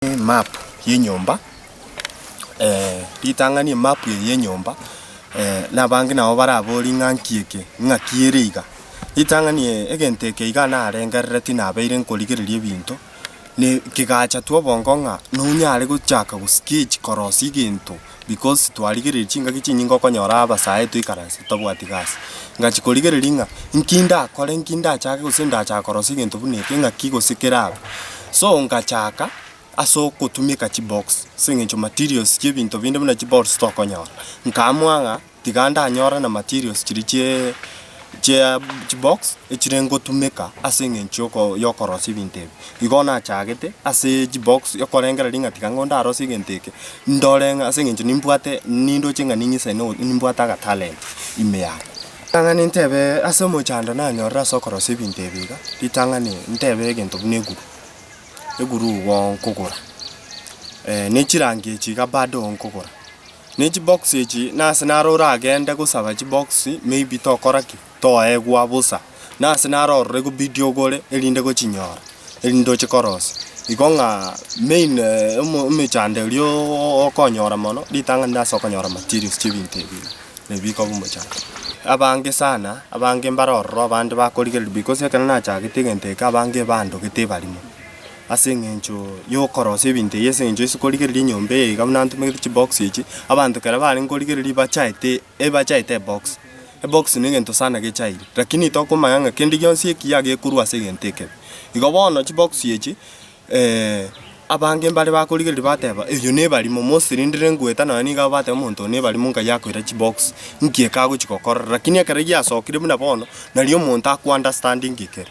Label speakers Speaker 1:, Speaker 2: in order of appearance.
Speaker 1: Emap yenyomba ritang'ani emap eye yenyomba na abange nabo barabori ng'a nki eke ng'aki ere iga. Ritang'ani eye egento eke iga narengerereti nabeire nkorigereria ebinto na ekegacha twa obongo ng'a nonyare gochaka go sketch korosia egento. because twarigereiri chingaki chinyinge okonyora abasae toikaranse totabwati gasi. Ngachia korigereria ng'a inki ndakore inki ndachake gose ndachaka korosia egento buna eke ng'aki gose kerabe. So ngachaka ase ogotumeka chibox ase eng'encho materials chiebinto binde buna chibox tokonyora. Nkaamua ng'a. tiga ndanyore na materials chiria chie chia chibox echire ngotumeka ase eng'encho yoko yokorosia ebinto ebi. Igo nachagete ase chibox okorengera ring'a tiga ng'o ndarosie egento eke, ndore ng'a ase eng'encho nimbwate nindoche ng'a ning'ise no nimbwate agatalent ime yane. Ritang'ani ntebe ase omochando nanyorire ase okorosia ebinto ebi iga, ritang'ani ntebe egento buna eguru, eguru igo nkogora, nechirangi echi iga bado nkogora. Ne chibox echi nase naro oragende gosaba chibox maybe tokora ki? Toegwa bosa. Nase naro orore gobidi ogore erinde gochinyora erinde oche korosia. Igo ng'a main omo emechando erio oo okonyora mono ritang'ani rinde ase okonyora materials chiebinto ebi iga nabio bikoba omochando. Abange sana abange mbare ororo abande bakorigereria because ekero nachagete egento eke abange ebandogete ebarimo. Ase engencho y'ogokorosia ebinto eyio, ase engencho ase korigereria enyomba eye iga buna ntomegete chibox echi, abanto ekero barenge korigereria bachaete ebachaete ebox. Ebox negento sana gechaire, lakini tokomanya ng'a kende gionsi ekiya gekorwa ase egento ekebe. Igo bono chibox echi abange mbare bakorigereria bateba eyio nebarimo, mostly rende rengweta nonye niga bateba omonto oyo nebarimo nkaye akoira chibox, nki eke agochi gokorora. Lakini ekero giasokire buna bono, nari omonto akounderstandinge ekere.